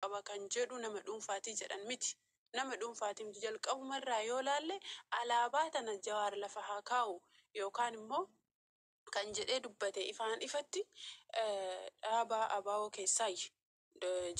qaba kan jedhu nama dhuunfaati jedhan. Miti nama dhuunfaati miti jalqabuma irraa yoo laalle alaabaa tana Jawaar lafa haa kaa'u yookaan immoo kan jedhee dubbate ifaan ifatti dhaaba ABO keessaayyi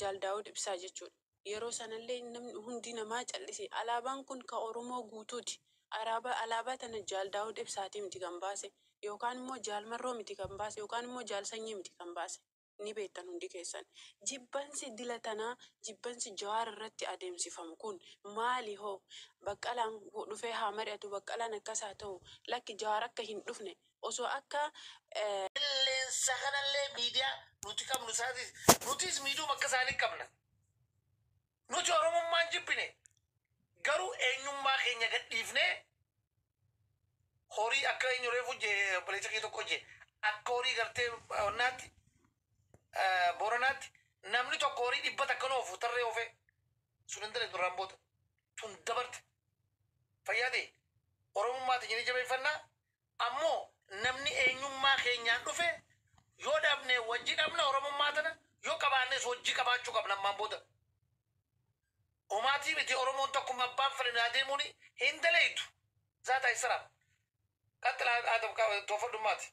Jaal Daawud Ibsaa jechuudha. Yeroo sanallee namni hundi namaa cal'ise. Alaabaan kun ka Oromoo guutuuti. Araabaa alaabaa tana Jaal Daawud Ibsaati miti kan baase yookaan immoo Jaal Marroo miti kan baase yookaan immoo Jaal Sanyii miti kan baase. ni beektan hundi keessan. Jibbansi dila tanaa, jibbansi Jawaar irratti adeemsifamu kun maali hoo? Baqqalaan dhufee haa mari'atu, Baqqalaan akkas haa ta'u, lakki Jawaar akka hin dhufne, osoo akka. Qilleensa kanallee miidiyaa nuti qabnu isaaniis, nutiis miidhuma akka isaanii qabna. Nuti Oromummaa hin jibbine. Garuu eenyummaa keenya gad dhiifnee horii akka eenyu reefu je obboleessa kee tokko je akka horii gartee onnaatti eh, booranaatti namni tokko horii dhibba takka nu ofu tarree ofee sun hin daleetu irraan booda tun dabarte fayyaa ta'e oromummaati jedhee jabeeffannaa Ammoo namni eenyummaa keenyaan dhufe yoo dhabne wajji dhabna Oromummaa tana, yoo qabaannes wajji qabaachuu qabna ammaan booda. Homaatii miti Oromoon takkuma abbaan fedhe naa deemuuni hin daleeydu. Zaataa Isiraam. Qaxxilaa Aadam Toofadhummaati.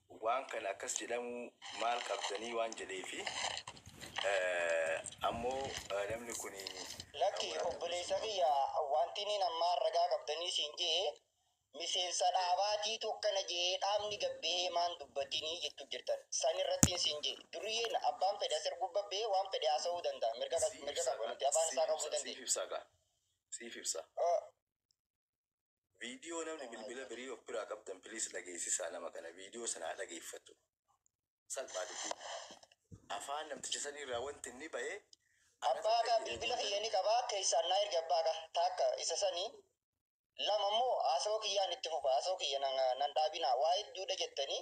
waan kana akkas jedhamuu maal qabdanii waan jedheefi ammoo namni kuni Lakki obboleessa kiyya wanti nin ammaan ragaa qabdanii siin je'e miseensa dhaabaatiitu akkana je'ee dhaabni gad bahee maan dubbatinii jettu jirtan san irrattin siin je'e duriyyeen abbaan fedhe as erguu babbahee waan fedhe haasawuu danda'a mirga qaba nuti afaan isaa qabuu dandeenya. siif ibsaa kaa siif ibsaa. Video namni bilbila birii of biraa qabdan please dhageessisaa nama kana video sana haa dhageeffatu salphaa dubbii afaan namticha sanii irraa wanti inni bahee anatu Abbaa akka kaa bilbila kiyya fayyadamtan ni qaba keessaan naa ergi abbaa kaa taakka isa sanii lama immoo haasawaa kiyyaan itti fufa haasawaa kiyya nan nan dhaabinaa waa hedduudha jettanii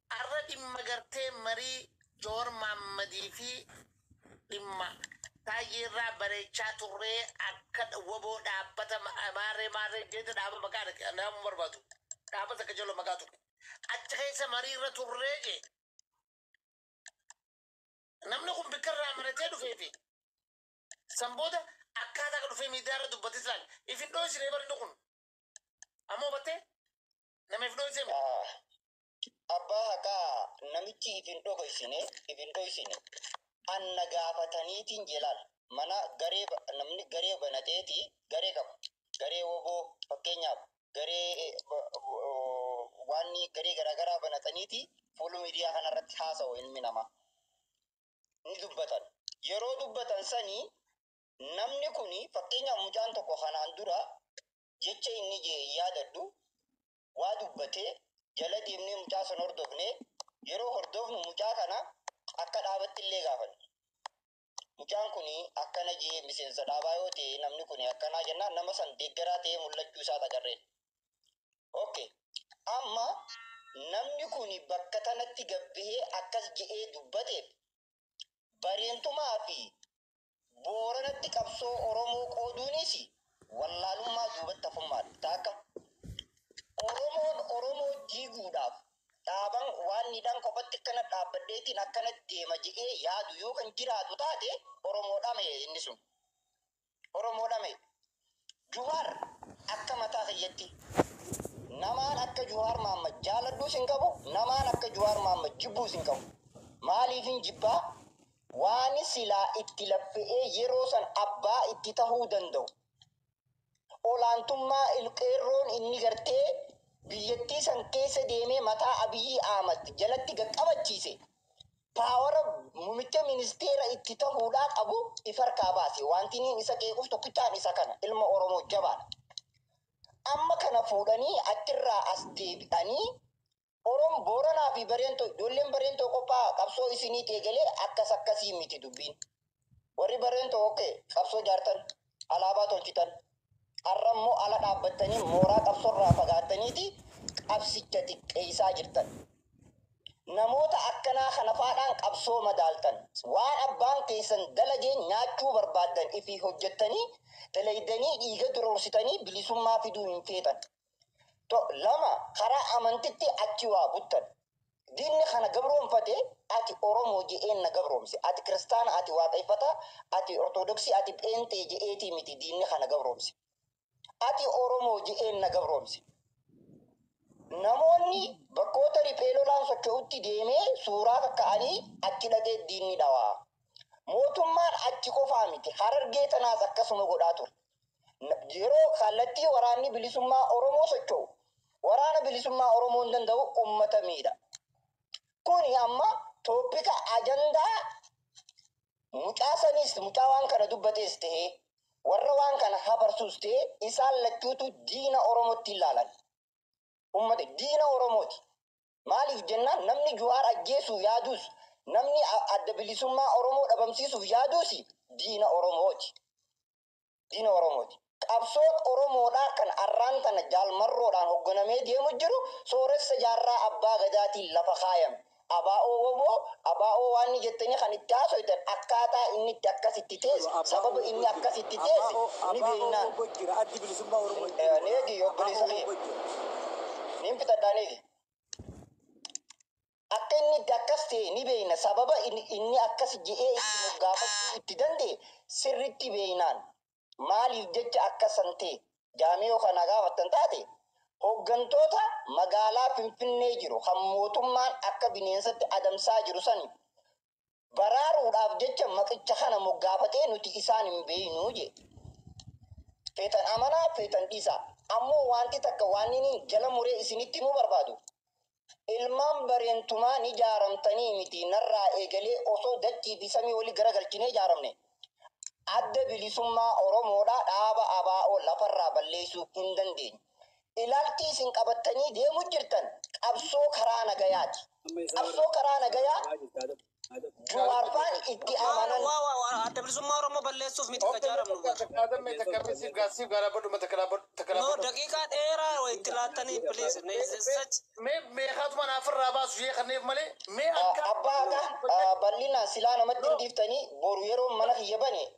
Arra dhimma gartee marii Jawar Maammadii fi dhimma Taayyee irraa bareechaa turree akka wbo dhaabbata maarree maarree jeete dhaaba maqaa dhaqe nama barbaadu dhaaba takka jala maqaa tuqe achi keessa marii irra turree jee namni kun bikka irraa maratee dhufee fi san booda akkaataa akka dhufee miidiyaa irra dubbatis laal ifin dhoosinee barni kun ammoo battee nama if dhoosinee abbaa haqaa namichi if hin dhogoysine if hin dhoysine an na gaafataniitiin jelaal mana garee ba- namni garee banateeti garee qabu garee woboo fakkeenyaaf garee eh, ba- oh, waan garee garaagaraa banataniiti fuulu miidiyaa kanarratti haasa'u ilmi namaa ni dubbatan yeroo dubbatan sanii namni kun fakkeenyaaf mucaan tokko kanaan dura jecha inni je yaadadhu waa dubbate jala deemnee mucaa san hordofne yeroo hordofnu mucaa kana akka dhaabatti illee gaafanne mucaan kun akkana jee miseensa dhaabaa yoo ta'e namni kun akkanaa jennaan nama san deeggaraa ta'ee mul'achuu isaa agarreen okay amma namni kun bakka tanatti gabbihee akkas je'ee dubbateef bareentumaa fi Booranatti qabsoo Oromoo qooduuniisi wallaalummaa duubatti hafummaadha. Taakka Oromoon Oromoo diiguudhaaf dhaaban waan nidhaan kophatti akkana dhaabbadheetiin akkana deema jedhee yaadu yoo kan jiraatu taate Oromoodhame inni sun. Oromoodhame. Juhaar akka mataa kiyyatti namaan akka Juhaar Maammad jaaladhuus hin qabu, namaan akka Juhaar Maammad jibbuus hin qabu. Maaliifin jibbaa? Waani silaa itti laffe'ee yeroo san abbaa itti tahuu danda'u, olaantummaa Ilqeerroon inni gartee biyyattii san keessa deemee mataa Abiyyii Ahmad jalatti gad qabachiise, paawara mumicha ministeera itti tahuudhaa qabu if harkaa baase. Waantiniin isa qeequuf tokkichaan isa kana. Ilma Oromoo jabaadha. Amma kana fuudhanii achirraa as deebi'anii Orom Booranaa fi Bareentoo ijoolleen Bareentoo qophaa qabsoo isiniiti eegalee akkas akkasii miti dubbiin. Warri bareen tookkee qabsoo jaartan, alaabaa tolchitan, arra immoo ala dhaabbattanii mooraa qabsorraa fagaattaniiti qabsicha xiqqeessaa jirtan. Namoota akkanaa kanafaadhaan qabsoo madaaltan. Waan abbaan keessan dalageen nyaachuu barbaaddan ifii hojjattanii dalaydanii dhiiga duroorsitanii bilisummaa fiduu hin feetan. To, lama karaa amantitti achi waa buttan. Diinni kana gabroomfate ati Oromoo je'een na gabroomse. Ati kiristaana, ati waaqeeffataa, ati ortodoksii, ati pheenxee je'eetii miti diinni kana gabroomse. Ati Oromoo je'een na gabroomse. Namoonni bakkoota riphee lolaan socho'utti deemee suuraa kakka'anii achi dhaqee diinni dhawaa. Mootummaan achi qofaa miti Harargee tanaas akkasuma godhaa ture. Yeroo kallattii Waraanni Bilisummaa Oromoo socho'u Waraana Bilisummaa Oromoon danda'u ummata miidha. Kuni amma toopika ajandaa mucaa saniis mucaa waan kana dubbatees ta'ee warra waan kana hafarsuus ta'ee isaan lachuutu diina Oromootti ilaalan. Ummata diina Oromooti. Maaliif jennaan namni Juhaar ajjeesuu yaaduus namni adda bilisummaa Oromoo dhabamsiisuuf yaaduus diina Oromooti. diina Oromooti. Qabsoon Oromoodhaa kan arraan tana Jaal Marroodhaan hogganamee deemu jiru sooressa jaarraa Abbaa Gadaatiin lafa kaayame. Abo, wbo, abo waanni jettanii kan itti haasoytan akkaataa inni itti akkas itti teesse, sababa inni akkas itti teesse ni beeynaa. Neegii obboleessa kiyya. Niin bitadhaa neegii. Akka inni itti akkas ta'e ni beekna, sababa inni akkas jedhee itti moggaafachuu itti danda'e sirriitti beeknaan. Maaliif jecha akka san ta'e jaamee yoo kan na gaafattan taate, hoggantoota magaalaa Finfinnee jiru kan mootummaan akka bineensatti adamsaa jiru saniif baraaruudhaaf jecha maqicha kana moggaafatee nuti isaan hin beeynu jee. Feetan amanaa feetan dhiisaa. Ammoo waanti takka waan inni jala muree isinitti himuu barbaadu. Ilmaan bareentumaa ni jaaramtanii miti narraa eegalee osoo dachii fi samii wali garagalchinee jaaramne. Adda bilisummaa Oromoodhaa dhaaba ABO lafarraa balleeysuu hin dandeenyu. Ilaalchi isin qabattanii deemu jirtan qabsoo karaa nagayaati. Qabsoo karaa nagayaa Juwaar faan itti amanan. Adda Bilisummaa Oromoo balleessuuf miti ka jaaramnu bar. No, daqiiqaa dheeraa wa itti laattanii please. No, is this such? Abbaa haqa bal'inaan silaa namatti hin dhiiftanii boru yeroon mana kiyya bane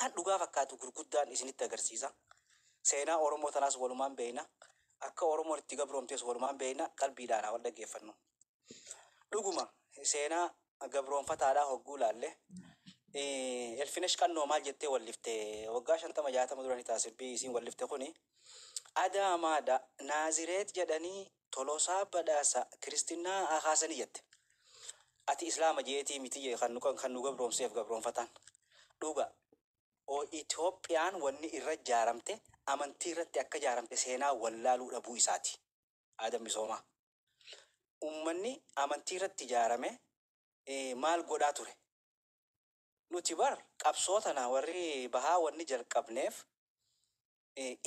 Kan dhugaa fakkaatu gurguddaan isinitti agarsiisa. Seenaa Oromoo tanaas walumaan beeyna. Akka Oromoon itti gabroomtes walumaan beeyna. Qalbiidhaan haa wal dhaggeeffannu. Dhuguma seenaa gabroomfataadhaa hogguu laalle Elfinesh Qannoo maal jettee wallifte waggaa shantama jaatama dura ni ta'a sirbii isiin wallifte kuni Adaamaadha Naazireet jedhanii Tolosaa Badhaasa Kiristinnaa akaasanii jette. Ati Islaama jeetii miti jee kan nu kan kan nu gabroomseef gabroomfataan. Dhuga. O Itoophiyaan wanni irra jaaramte amantii irratti akka jaaramte seenaa wallaaluu dhabuu isaati. Aadam Misoomaa. Ummanni amantii irratti jaarame eh, maal godhaa ture? Nuti bar qabsoo tana warri bahaa wanni jalqabneef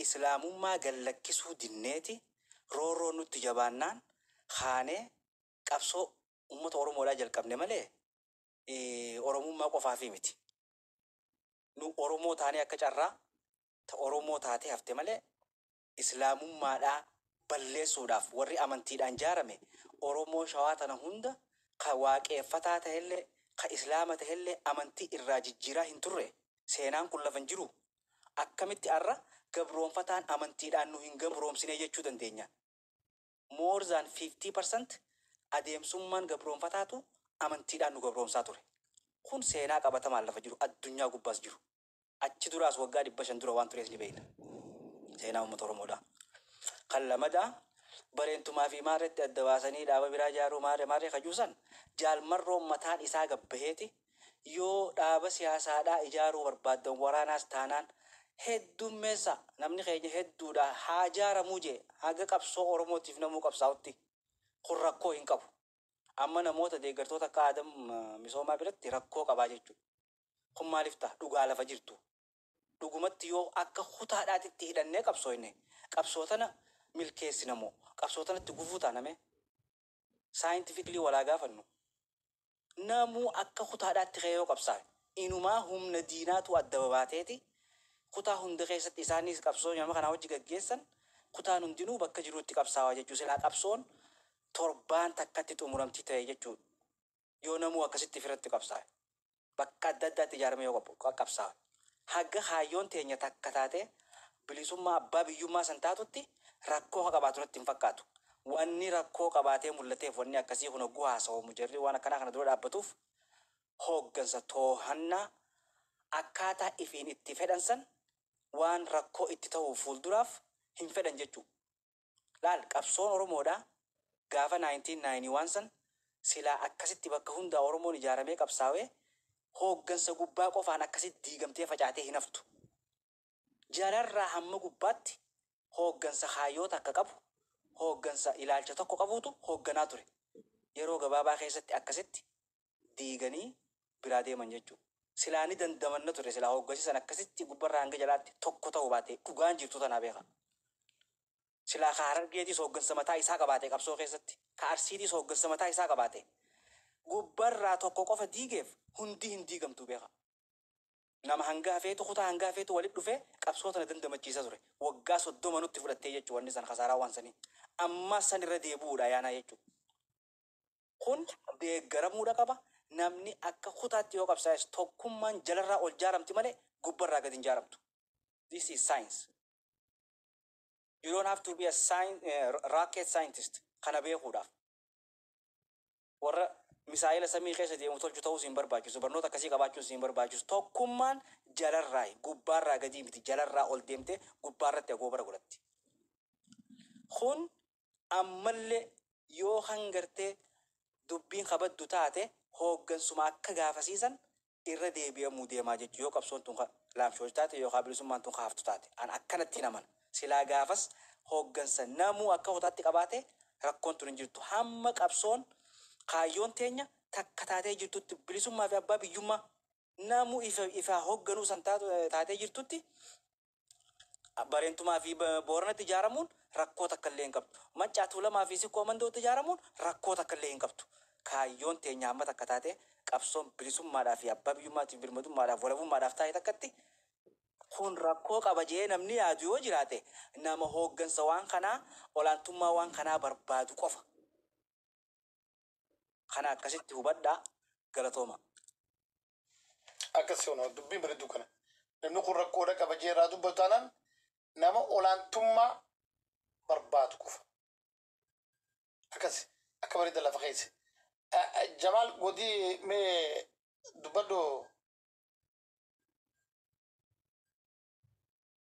Islaamummaa gad lakkisuu dinneeti roorroon nutti jabaannaan kaanee qabsoo ummata Oromoodhaa jalqabne malee Oromummaa qofaafii miti. Nu Oromoo taanee akka carraa ta Oromoo taatee hafte malee Islaamummaadhaa balleessuudhaaf warri amantiidhaan jaarame Oromoo Shawaa tana hunda ka Waaqeeffataa tahellee ka Islaama tahellee amantii irraa jijjiiraa hin turre. Seenaan kun lafa hin jiruu? Akkamitti har'a gabroomfataan amantiidhaan nu hin gabroomsine jechuu dandeenya? More than 50% adeemsummaan gabroomfataatu amantiidhaan nu gabroomsaa ture. Kun seenaa qabatamaan lafa jiru, addunyaa gubbaas jiru. Achi duraas waggaa 500 dura waan turees ni beekna. Seenaa uummata Oromoodhaa. Kan lamadaa Bareentumaa fi Maarreetti adda baasanii dhaaba biraa ijaaruu maarre maarre ka jiru san Jaal Marroon mataan isaa gad baheeti Yoo dhaaba siyaasaadhaa ijaaruu barbaaddan waraanaas taanaan heddummeessaa namni keenya hedduudha haa ijaaramuu jee haga qabsoo Oromootiif namuu qabsaa'utti kun rakkoo hin qabu. Amma namoota deeggartoota akka Aadam Misoomaa biratti rakkoo qabaa jechuu kun maaliif taha dhugaa lafa jirtu. Dhugumatti yoo akka kutaadhaatti itti hidhannee qabsooyne qabsoo tana milkeessina moo qabsoo tanatti gufuu taana mee? scientifically wal haa gaafannu. Namuu akka kutaadhaatti ka'ee yoo qabsaa'e, inumaa humna diinaatu adda babaateeti kutaa hunda keessatti isaanis qabsoo nama kanaa wajji gaggeessan kutaan hundinuu bakka jiruutti qabsaawaa jechuu silaa qabsoon torbaan takkatti xumuramti ta'e jechuudha. yoo namuu akkasitti ifirratti qabsaawe, bakka adda addaatti ijaaramee yoo qab, qabsaawe, haga kaayyoon teenya takka taatee bilisummaa abbaa biyyummaa san taatutti rakkoo ka qabaatu natti hin fakkaatu. Wanni rakkoo qabaatee mullateef wanni akkasii kun hogguu haasawamu jarri waan akkanaa kana dura dhaabbatuuf hooggansa toohannaa akkaataa ifiin itti fedhan san waan rakkoo itti tahuuf fuulduraaf hin fedhan jechuu. Laal qabsoon Oromoodhaa gaafa 1991 san silaa akkasitti bakka hundaa Oromoon ijaaramee qabsaawee hooggansa gubbaa qofaan akkasitti diigamtee facaatee hin haftu. Jalarraa hamma gubbaatti hooggansa kaayyoo takka qabu, hooggansa ilaalcha tokko qabuutu hoogganaa ture. Yeroo gabaabaa keessatti akkasitti diiganii biraa deeman jechuu. Silaa ni dandamanna turre silaa hoggasi san akkasitti gubbarraa hanga jalaatti tokko ta'uu baate dhugaan jirtuu tanaa beekha. Silaa ka Harargeetiis hooggansa mataa isaa qabaate qabsoo keessatti, ka Arsiitiis hooggansa mataa isaa qabaate gubbarraa tokko qofa diigeef hundi hin diigamtu beekha. Nama hanga hafeetu kutaa hanga hafeetu walitti dhufee qabsoo tana dandamachiisa ture. Waggaa 30 nutti fudhattee jechuu wanni san kasaaraa waan sanii. Ammaas san irra deebi'uudha ayaanaa jechuu. Kun deeggaramuudha qaba. Namni akka kutaatti yoo qabsaa'es tokkummaan jalarraa ol jaaramti malee gubbarraa gad hin jaaramtu. This is science. You don't have to be a scien- eh, rocket scientist kana beekuudhaaf. Warra misaa'ela samii keessa deemu tolchu ta'uu siin barbaachisu. Barnoota akkasii qabaachuun siin barbaachisu. Tokkummaan jalarraa gubbaarraa gadii miti. Jalarraa ol deemtee gubbaarratti agoobara godhatti. Kun Ammalle yo kan gartee dubbiin ka baddu taate hooggansuma akka gaafasiisan irra deebi'amuu deema jechu yo qabsoon tun ka laamshooytu taate yookaa bilisummaan tun ka haftu taate an akkanattiin amana. Silaa gaafas hooggansa namuu akka kutaatti qabaate rakkoon tun hin jirtu. Hamma qabsoon kaayyoon teenya takka taatee jirtutti bilisummaa fi abbaa biyyummaa. Namu ifaa hogganuu san taatee jirtutti Bareentumaa fi Booranatti ijaaramuun rakkoo takka illee hin qabdu. Maccaa Tuulamaa fi Sikkoo Mandootti ijaaramuun rakkoo takka illee hin qabdu. Kaayyoon teenya hamma takka taatee qabsoon bilisummaadhaa fi abbaa biyyummaatiif birmadummaadhaaf walabummaadhaaf taa'e takkatti kun rakkoo qaba jedhee namni yaadu yoo jiraate nama hooggansa waan kanaa olaantummaa waan kanaa barbaadu qofa. Kana akkasitti hubadhaa. Galatoomaa. Akkas seona dubbiin baredduu kana namni kun rakkoodha qaba jee irraa dubbatu taanaan nama olaantummaa barbaadu qofa akkas akka bareedda lafa keesse jamaal godii mee dubbadhu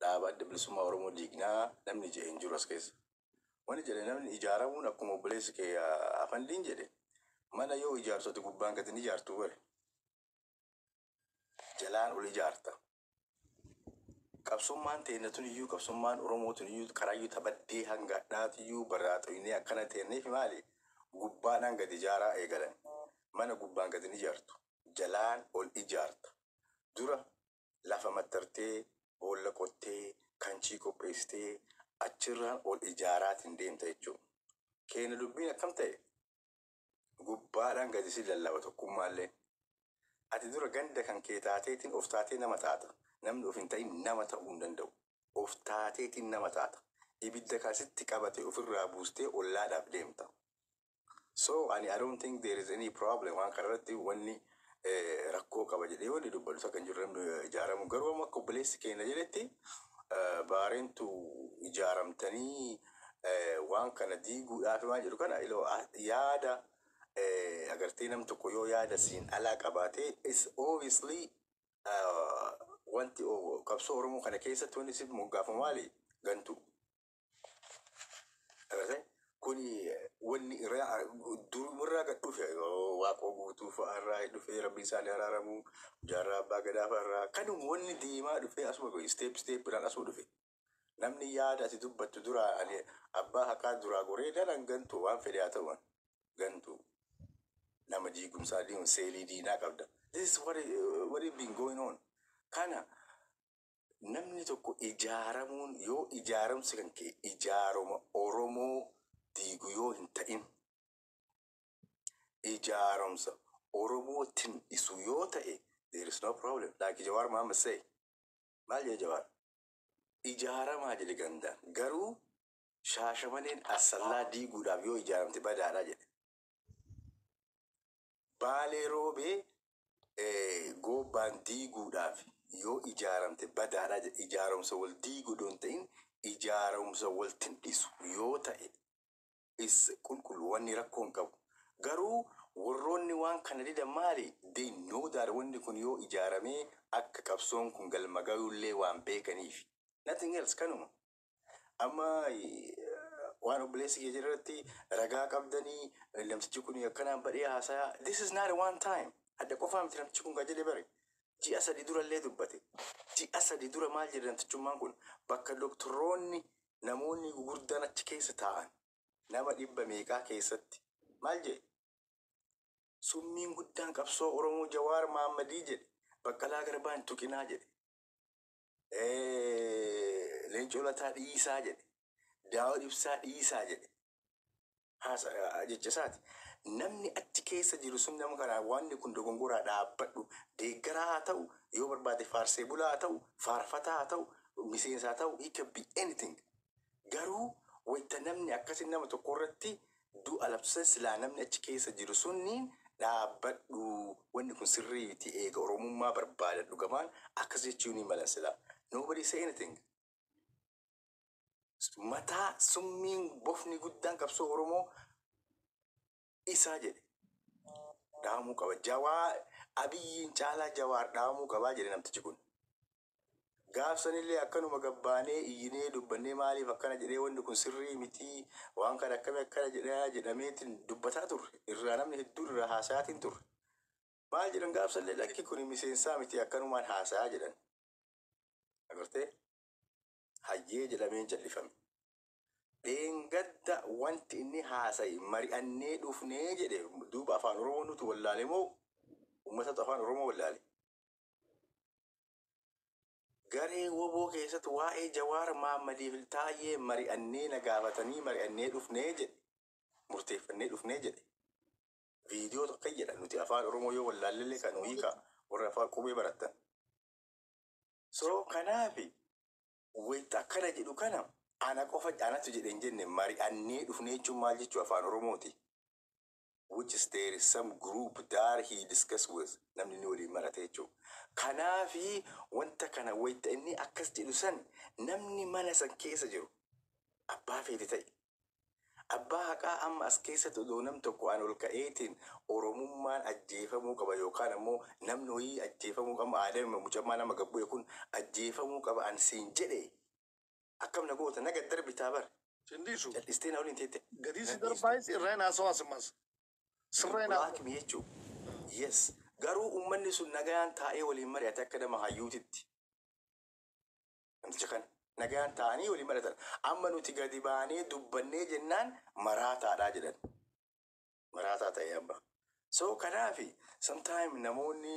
dhaaba adda bilisummaa Oromoo diignaa namni jedhe hin jiru as keessa. Wani jedhe namni ijaaramuun akkuma obboleessi kee afandiin jedhe mana yoo ijaartu ati gubbaan gad hin ijaartu bare. Jalaan ol ijaarta. Qabsummaan teennatun iyyuu qabsummaan Oromootun iyyuu karaayyuu tabaddee hanga adhaatu iyyuu barraaxoynee akkana teenneef maali gubbaadhaan gad ijaaraa eegalan. Mana gubbaan gad hin ijaartu. Jalaan ol ijaarta. Dura lafa mattartee, boolla qottee, kanchii qopheessitee achirraan ol ijaaraatiin deemta jechuudha. Keenya dubbiin akkam ta'e? Gubbaadhaan gadi si lallaba tokkummaallee. Ati dura ganda kan kee taateetiin of taatee nama taata. Namni of hin ta'in nama ta'uu hin danda'u. Of taateetiin nama taata. Ibidda kan sitti qabate ofirraa buustee ollaadhaaf deemta. So ani I don't think there is any problem waan kana irratti wanni eh, rakkoo qaba jedhee wanni dubbadhu takka hin jiru namni eh, ijaaramu garuu amma akka obboleessi keenya jedhetti eh, baareentu ijaaramtanii eh, waan kana diiguudhaaf waan jedhu kana iloo ah, yaada eh, agartee nam tokko yoo yaada siin alaa qabaatee is obviously eh, wanti oh, qabsoo oromoo kana keessatti wanni si moggaafamu maali gantuu Agartee? Kuni wanni irraa durumarraa gad dhufe waaqoo guutuu fa'aa irraa dhufee rabbi isaanii araaramu jaarraa abbaa gadaa fa'aa irraa kanuma wanni deemaa dhufee asuma ga'e isteep isteepidhaan asuma dhufe. Namni yaada ati dubbattu duraa ani abbaa haqaa duraa goree daran gantu waan fedhe haa ta'u gantu nama diigumsaa diimu seelii diinaa qabda. This is what, it- what it been going on. Kana Namni tokko ijaaramuun yoo ijaaramsi kan ka'e ijaaroma Oromoo diigu yoo hin ta'in, ijaaromsa Oromoo tin'isu yoo ta'e there is no problem like Jawaar Mohammed say. Maal jedhe Jawaar? Ijaaramaa jedhe gandaan. Garuu Shaashamaneen Assallaa diiguudhaaf yoo ijaaramte badaadha jedhe. Baalee Roobee Goobbaan diiguudhaaf yoo ijaaramte badaadha jedha. Ijaarumsa wal diigu odoo hin ta'in ijaarumsa wal tindhisu yoo ta'e is qulqullu wanni rakkoo hin qabu. Garuu warroonni waan kana didan maali? They know that wanni kun yoo ijaaramee akka qabsoon kun galma gayullee waan beekaniifi. Nothing else kanuma. Amma waan obboleessi kee jirratti ragaa qabdanii namtichi kun akkanaan badhee haasaya. This is not one time. Hadda qofaa miti namtichi kun qajeele bare. Ji'a sadi dura illee dubbate. Ji'a sadi dura maal jedhe namtichummaan kun bakka doktoroonni namoonni gugurdaan achi keessa taa'an nama dhibba meeqaa keessatti maal jedhe summiin guddaan qabsoo Oromoo Jawaar Maammadii jedhe baqqalaa garbaan tuqinaa jedhe. Eh, Leencoo Lataa dhiisaa jedhe. Daawud Ibsaa dhiisaa jedhe. Haasa eh, jecha isaati. Namni achi keessa jiru sun nama kanaa wanni kun dogongoraa dhaabbadhu. Deeggaraa haa ta'u, yoo barbaade faarsee bulaa haa ta'u, faarfataa haa ta'u, miseensa haa ta'u, he can be anything. Garuu wayta namni akkasi nama tokko irratti du'a labsan silaa namni achi keessa jiru sunniin dhaabbadhu wanni kun sirrii miti eega Oromummaa barbaadan dhugamaan akkas jechuu ni malan silaa nobody say anything. Mataa summiin bofni guddaan qabsoo Oromoo isaa jedhe dhaamuu qaba. Jawaa Abiyyiin caalaa Jawaar dhaamuu qabaa jedhe namtichi kun. Gaafsanillee akkanuma gabbaanee iyyinee dubbannee maaliif akkana jedhee wanni kun sirrii mitii waan kana akkami akkana jedhaa jedhameetiin dubbataa turre irraa namni hedduun irraa haasayaatiin turre. Maal jedhan gaafsanillee lakki kun miseensaa mitii akkanumaan haasayaa jedhan. Agartee hayyee jedhameen callifame. Dheengadda wanti inni haasaye mari'annee dhufne jedhe duuba afaan oromoo nutu wallaale moo ummatatu afaan oromoo wallaale? Garee woboo keessatti waa'ee Jawaar Maammadiif Iltaayyee mari'annee na gaafatanii mari'annee dhufne jedhe murteeffannee dhufne jedhe viidiyoo tokko jedha nuti afaan oromoo yoo wallaallellee kan hiika warra afaan qubee barattan. So kanaafi Wayta akkana jedhu kana ana qofa anatu jedhe hin jenne mari'annee dhufne jechuun maal jechuu afaan oromooti which is there is some group that he discuss with namni inni waliin marate jechuu kanaafi wanta kana wayta inni akkas jedhu san namni mana san keessa jiru abbaa feete ta'i Abbaa haqaa amma as keessatti odoo nam tokko an ol ka'eetiin Oromummaan ajjeefamuu qaba yookaan ammoo namni woyii ajjeefamuu qaba amma Aadam immoo mucammaan amma gad bu'e kun ajjeefamuu qaba an siin jedhe akkam na goota na gad darbitaa bar Sin dhiisu. cal'istee na waliin teette Gadii na si dhiistu. darbaayis irraa hin haasawaa simmas. Sirra hin haasawaa. Black me jechuu. Yes. Garuu ummanni sun nagayaan taa'ee waliin mari'ate akka nama hayyuutitti. Namticha kan nagaan taa'anii waliin mari'atan. Amma nuti gadi baanee dubbannee jennaan maraataadha jedhan. Maraataa ta'e amma. So kanaaf sometime namoonni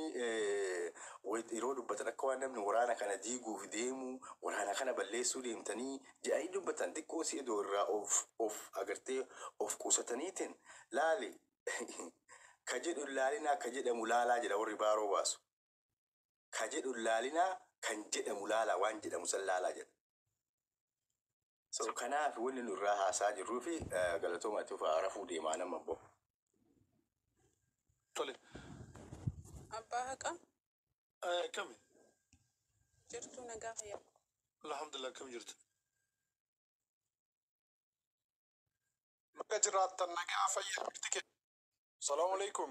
yeroo dubbatan akka waan namni waraana kana diiguuf deemu waraana kana balleessuu deemtanii jedhanii dubbatan xiqqoo si edoo irraa of of agartee of qusataniitiin laali ka jedhu laalinaa ka jedhamu laalaa jedha warri baaroo baasu. ka jedhu hin laalinaa kan jedhamu laalaa waan jedhamu san laalaa jedha. So kanaaf wanni nu irraa haasaa jirruu fi galatooma itti fufaa rafuu deemaa nama abbo. Tole. Abbaa haqaa Eh, Akkami? jirtuu nagaa fayyaa. Alhamdulillah akkam jirtu? Baga jiraattan nagaa fayyaa jirti kee. Salaamu alaikum.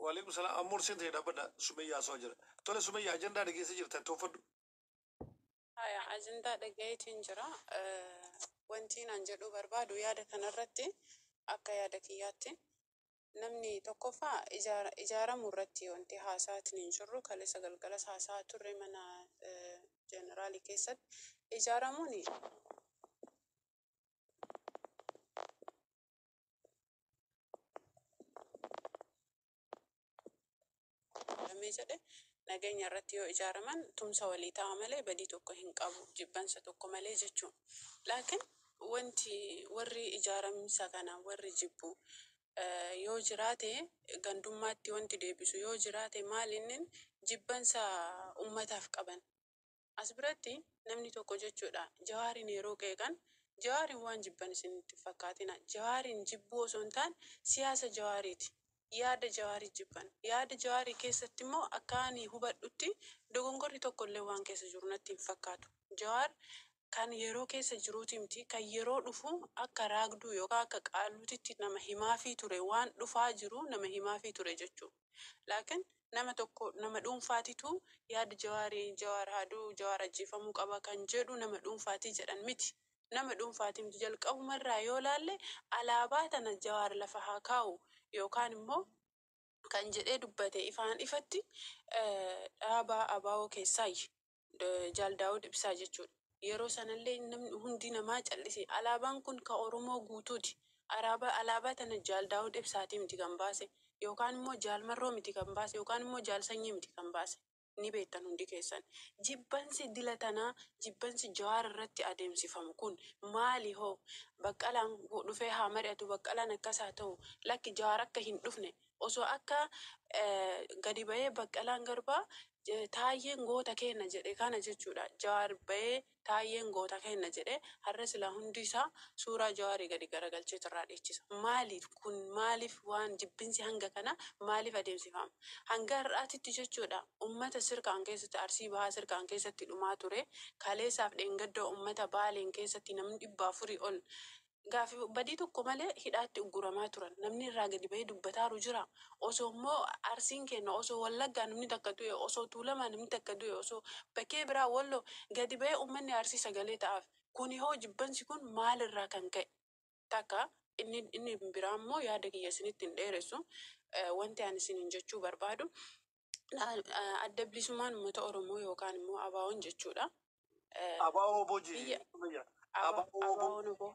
Waalaikum salaam amma ursiin ta'e dhaabbadha Sumayyaa haasawaa jira. Tole Sumayyaa ajandaa dhageessee jirta itti uffadhu. Haya, ajandaa dhagayeetiin jira. Eh, Wantiin an jedhuu barbaadu yaada kanarratti akka yaada kiyyaatti namni tokkoffaa ijaara- ijaaramu irratti wanti haasaatiin hin jirru kaleessa galgalas haasaa turre mana eh, jeneraalii keessatti ijaaramuun Lamee jedhe nageenya irratti yoo ijaaraman tumsa walii ta'a malee badii tokko hin qabu jibbansa tokko malee jechuun laakiin wanti warri ijaaramsa kana warri jibbu yoo jiraate gandummaatti wanti deebisu yoo jiraate maal inni jibbansa ummataaf qaban As biratti namni tokko jechuudha Jawaariin yeroo qeeqan Jawaariin waan jibban isin itti hin fakkaatina. Jawaariin jibbuu osoo hin taane siyaasa Jawaariiti. Yaada Jawaarii jibban. Yaada Jawaarii keessatti immoo akka ani hubadhutti dogongorri tokko illee waan keessa jiru natti hin fakkaatu. Jawaar kan yeroo keessa jiruuti miti kan yeroo dhufu akka raagduu yookaan akka qaalluutitti nama himaafii ture waan dhufaa jiru nama himaafii ture jechuudha. laakin nama tokko nama dhuunfaatitu yaada jawaari jawaar haa du'u jawaar ajjeefamuu qaba kan jedhu nama dhuunfaati jedhan miti nama dhuunfaati miti jalqabuma irraa yoo laalle alaabaa tana jawaar lafa haa kaa'u yookaan immoo kan jedhee dubbate ifaan ifatti dhaaba abo keessaayyi. Jaal Daawud Ibsaa jechuudha. Yeroo sanallee namni hundi namaa callise. Alaabaan kun ka Oromoo guutuuti. Araabaa alaabaa tana Jaal Daawud Ibsaatii miti kan baase. Yookaan immoo Jaal Marroo miti kan baase. Yookaan immoo Jaal Sanyii miti kan baase. Ni beettan hundi keessan. Jibbansi dila tanaa, jibbansi Jawaar irratti adeemsifamu kun maali hoo? Baqqalaan dhufee haa mari'atu, Baqqalaan akkas haa ta'u. Lakki Jawaar akka hin dhufne, osoo akka gadi bahee Baqqalaan Garbaa Taayyeen goota keenna jedhe kana jechuudha. Jawaar bahee Taayyeen goota keenna jedhe har'a silaa hundi isaa suuraa Jawaarii gadi garagalcheetu irraa dhiichisa. Maaliif kun maaliif waan jibbinsi hanga kana maaliif adeemsifaama? Hanga har'aatitti jechuudha ummata sirkaan keessatti Arsii Bahaa sirkaan keessatti dhumaa ture kaleessaaf dheengadda ummata Baaleen keessatti namni dhibba afurii ol Gaafi badii tokko malee hidhaatti ugguramaa turan. Namni irraa gadi bahee dubbataaru jira? Osoo immoo Arsiin keenna, osoo Wallaggaa namni takka du'e, osoo Tuulamaa namni takka du'e, osoo bakkee biraa Walloo gadi bahee ummanni Arsii sagalee ta'aaf. Kuni hoo jibbansi kun maal irraa kan ka'e? Takka. Inni inni biraa immoo yaada kiyya isinitti hin dheeressu. Wanti ani isiniin jechuu barbaadu Adda Bilisummaan Uummata Oromoo yookaan immoo ABOn jechuudha. Abaa-wbo jee. Biyya- Akkuma jira. Aba- Abaa-wbo. Abaon Obo.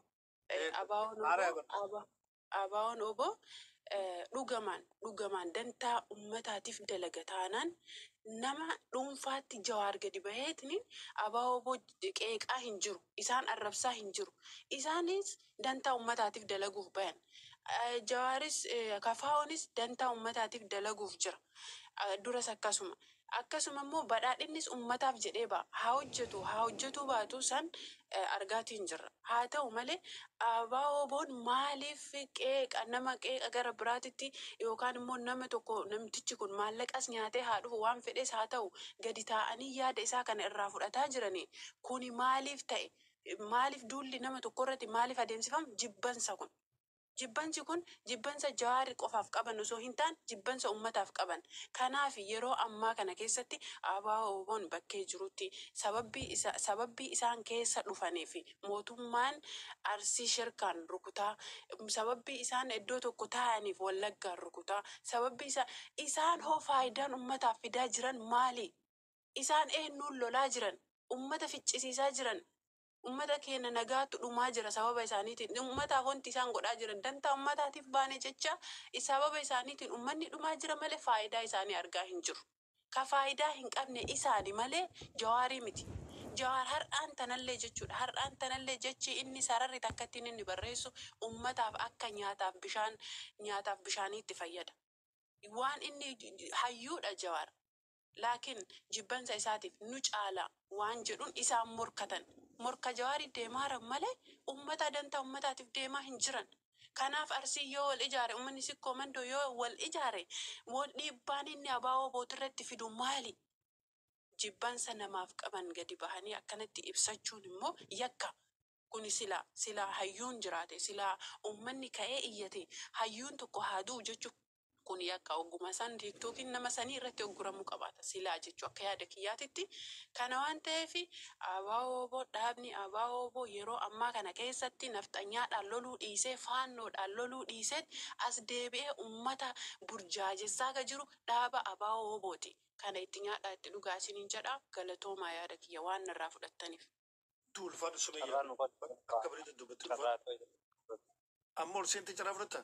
Eh, Eh, Abaon Obo. Maara Aba- Aba- Abaon Obo eh, dhugamaan dhugamaan dantaa ummataatiif dalaga taanaan nama dhuunfaatti jawaar gadi baheetni Abaon Obo qeeqaa hin jiru. Isaan arrabsaa hin jiru. Isaanis dantaa ummataatiif dalaguuf bayan. Jawaaris, KFOnis dantaa ummataatiif dalaguuf jira. Duras akkasuma. Akkasuma immoo Badhaadhinnis ummataaf jedhee ba'a. Haa hojjetu, haa hojjetuu baatu san argaatiin jirra. Haa ta'u malee ABO-WBOn maaliif qeeqa, nama qeeqa gara biraatitti yookaan immoo nama tokko namtichi kun maallaqas nyaatee haa dhufu, waan fedhes haa ta'u gadi taa'anii yaada isaa kana irraa fudhataa jiranii kuni maaliif ta'e? maaliif duulli nama tokko irratti maaliif adeemsifama? Jibbansa kun. Jibbansi kun jibbansa Jawaar qofaaf qaban osoo hin taane jibbansa ummataaf qaban. Kanaaf yeroo ammaa kana keessatti ABO-wbon bakkee jirutti sababbii isa sababbii isaan keessa dhufaniif mootummaan Arsii Sherkaan rukutaa, sababbii isaan iddoo tokko taa'aniif Wallaggaan rukutaa, sababbii isaan isaan hoo faayidaan ummataaf fidaa jiran maalii? Isaan eennuun lolaa jiran? Ummata ficcisiisaa jiran. Ummata keenna nagaatu dhumaa jira sababa isaaniitiin. Ummataaf wanti isaan godhaa jiran dantaa ummataatiif baane jecha sababa isaaniitiin ummanni dhumaa jira malee faayidaa isaanii argaa hin jiru. Ka faayidaa hin qabne isaani malee Jawaarii miti. Jawaar har'aan tanallee jechuudha. Har'aan tanallee jechi inni sararri takkattiin inni barreessu ummataaf akka nyaataaf bishaan nyaataaf bishaaniitti fayyada. Waan inni hayyuudha Jawaar. laakiin jibbansa isaatiif nu caala waan jedhuun isaan morkatan. Morka Jawaariif deemaaran malee ummataa dantaa ummataatiif deemaa hin jiran. Kanaaf Arsiin yoo wal ijaare ummanni Sikkoo Mandoo yoo wal ijaare wal dhiibbaan inni ABO-wbo irratti fidu maali? Jibbansa namaaf qaban gadi bahanii akkanatti ibsachuun immoo yakka. Kuni silaa silaa hayyuun jiraate silaa ummanni ka'ee iyyatee hayyuun tokko haa du'u jechuu Kun yakka ogguma san diigdu ykn nama sanii irratti ugguramuu qabaata silaa jechu akka yaada kiyyaatitti. Kana waan taheef ABO-wbo, dhaabni ABO-wbo yeroo ammaa kana keessatti nafxanyaadhaan loluu dhiisee, faannoodhaan loluu dhiiseet as deebi'ee ummata burjaajessaa ka jiru dhaaba ABO-wbooti. Kana itti nyaadhaa itti dhugaa isiniin jedha. Galatoomaa yaada kiyya waan narraa fudhattaniif. Itti ulfaadhu sumayya akka bareeda dubbatte ulfaadhu. Amma ol seentee carraa fudhatta?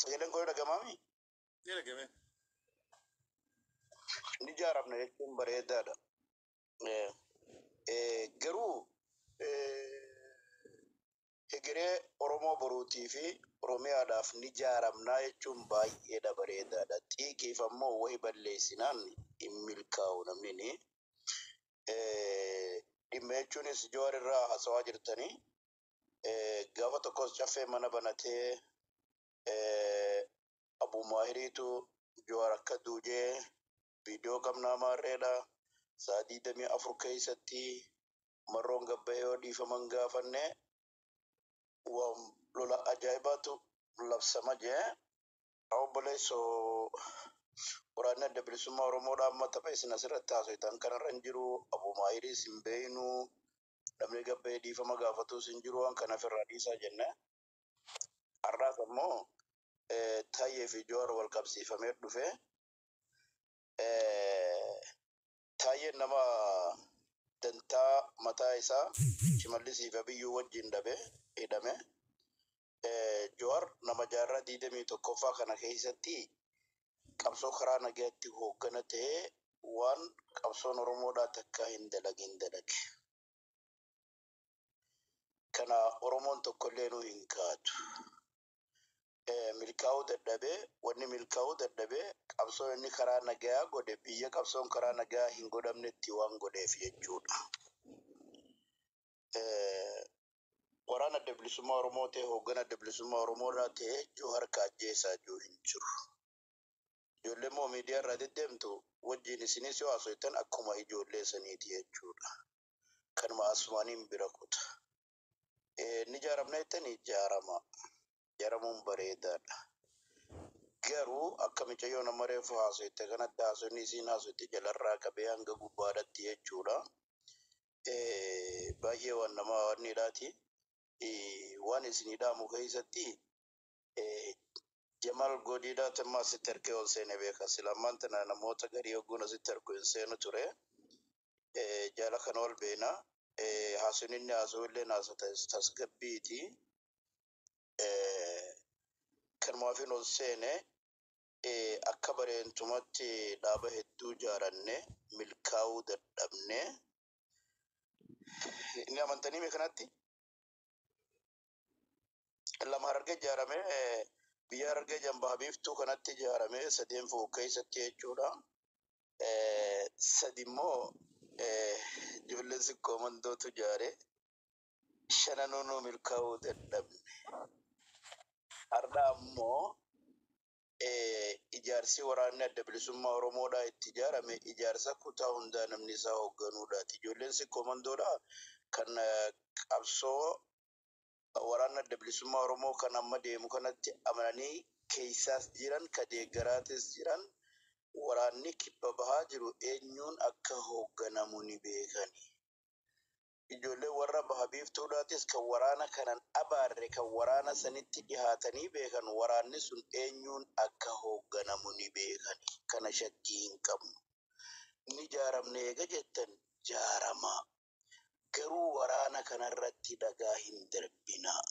Sagaleen koo dhagamaami? Ni dhagame. Ni jaaramna jechuun bareedaadha. Garuu hegeree Oromoo boruutii fi Oromiyaadhaaf ni jaaramnaa jechuun baay'eedha bareedaadha. Xiiqiif ammoo wahi balleessinaan hin milkaa'u namni ni. Dhimma jechuunis Jawaar irraa haasawaa jirtanii Gaafa tokkos caffee mana banatee Abuu Maahiriitu Jawaar akka duujee viidiyoo qabnaa maarreedha. Sa'a digdamii afur keessatti marroon gabba'ee yoo dhiifaman gaafanne waan lola ajaa'ibaatu labsama jee. Obboleesso waraanni adda bilisummaa Oromoodha amma tapha isin asirratti haasoytan kanarra hin jiru. Abuu Maahiriis hin beeynu. namni gad bahee dhiifama gaafatus hin jiru waan kana ofirraa dhiisaa jennee har'aas ammoo eh, Tayyee fi Jowaar wal qabsiifamee dhufe eh, Tayyeen nama dantaa mataa isaa Shimallisii fi Abiyyuu wajjin dhabe hidhame Jawar nama jaarraa 21ffaa kana keessatti qabsoo karaa nagaatti hooggana ta'ee waan qabsoon Oromoodhaa takkaa hin dalagin dalage. Kana Oromoon tokkolleenuu hin kaatu. Milkaa'uu dadhabee wanni milkaa'uu dadhabe qabsoon inni karaa nagayaa godhe biyya qabsoon karaa nagayaa hin godhamnetti waan godheef jechuudha. Waraan Adda Bilisummaa Oromoo ta'e hooggan Adda Bilisummaa Oromoo irraa ta'e Joohar ka ajjeesaa jiru hin jiru. Ijoollee immoo miidiyaa irraa deddeemtu wajjin isinis yoo haasoytan akkuma ijoollee saniiti jechuudha. Kanuma asumaaniin bira kuta. Ni jaaramna jettanii jaarama. Jaaramuun bareedaadha. Garuu akka micayyoo nama reefu haasoyte kanatti haasoyni isiin haasoyte jalarraa qabee hanga gubbaadhatti jechuudha. baay'ee waan nama hawaadneedhaati. Waan isinii dhaamu keessatti Jamaal Goodiidhaa Temmaa asitti erkee ol seenee beeka. Sila ammaan tana namoota garii ogguun asitti erku hin seenu ture. Jaala kana wal beena. Haasuun inni haasuu illee haasa tasgabbiiti. Kanumaafin ol seene. akka bareentumatti dhaaba hedduu jaarannee milkaa'uu dadhabne. Ni amantanii mee kanatti? Lama harargee ijaarame biyya harargee jambaa biiftuu kanatti ijaarame sadeen fu'u keessatti jechuudha. Sadi immoo ijoolleen sikkoo mandootu ijaare. shananuu nuu milkaa'uu dadhabne. Har'a ammoo ijaarsi waraanni Adda Bilisummaa Oromoodhaa itti ijaarame ijaarsa kutaa hundaa namni isaa hoogganuudhaati. Ijoolleen Sikkoomandoodhaa kan qabsoo waraanni Adda Bilisummaa Oromoo kan amma deemu kanatti amananii keessaas jiran ka deeggaraatis jiran waraanni kibba bahaa jiru eenyuun akka hoogganamu ni beekani. Ijoolleen warra Baha Biiftuudhaatis kan waraana kanan abaarre kan waraana sanitti dhihaatanii beekan waraanni sun eenyuun akka hoogganamu ni beekani. Kana shakkii hin qabnu. Ni jaaramne eega jettan jaaramaa. Garuu waraana kanarratti dhagaa hin darbinaa.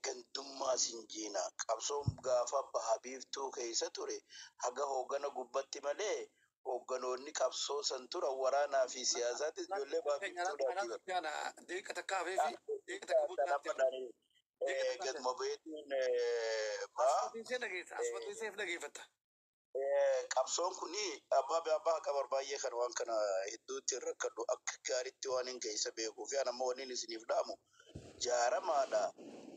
gandummaa sin jiina qabsoon gaafa baha biiftuu keessa ture haga hoogana gubbatti malee hoogganoonni qabsoo san turan waraanaa fi siyaasaatis ijoollee baha biiftuudhaati bar. Gad mobeetiin baa. Qabsoon kun abbaa bee abbaa akka barbaay'ee kan waan kana hedduu ittiin rakkadhu akka gaariitti waan hin geessa beekuu fi anammoo wanni isiniif dhaamu jaaramaadha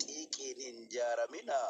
xiiqiin hin jaaraminaa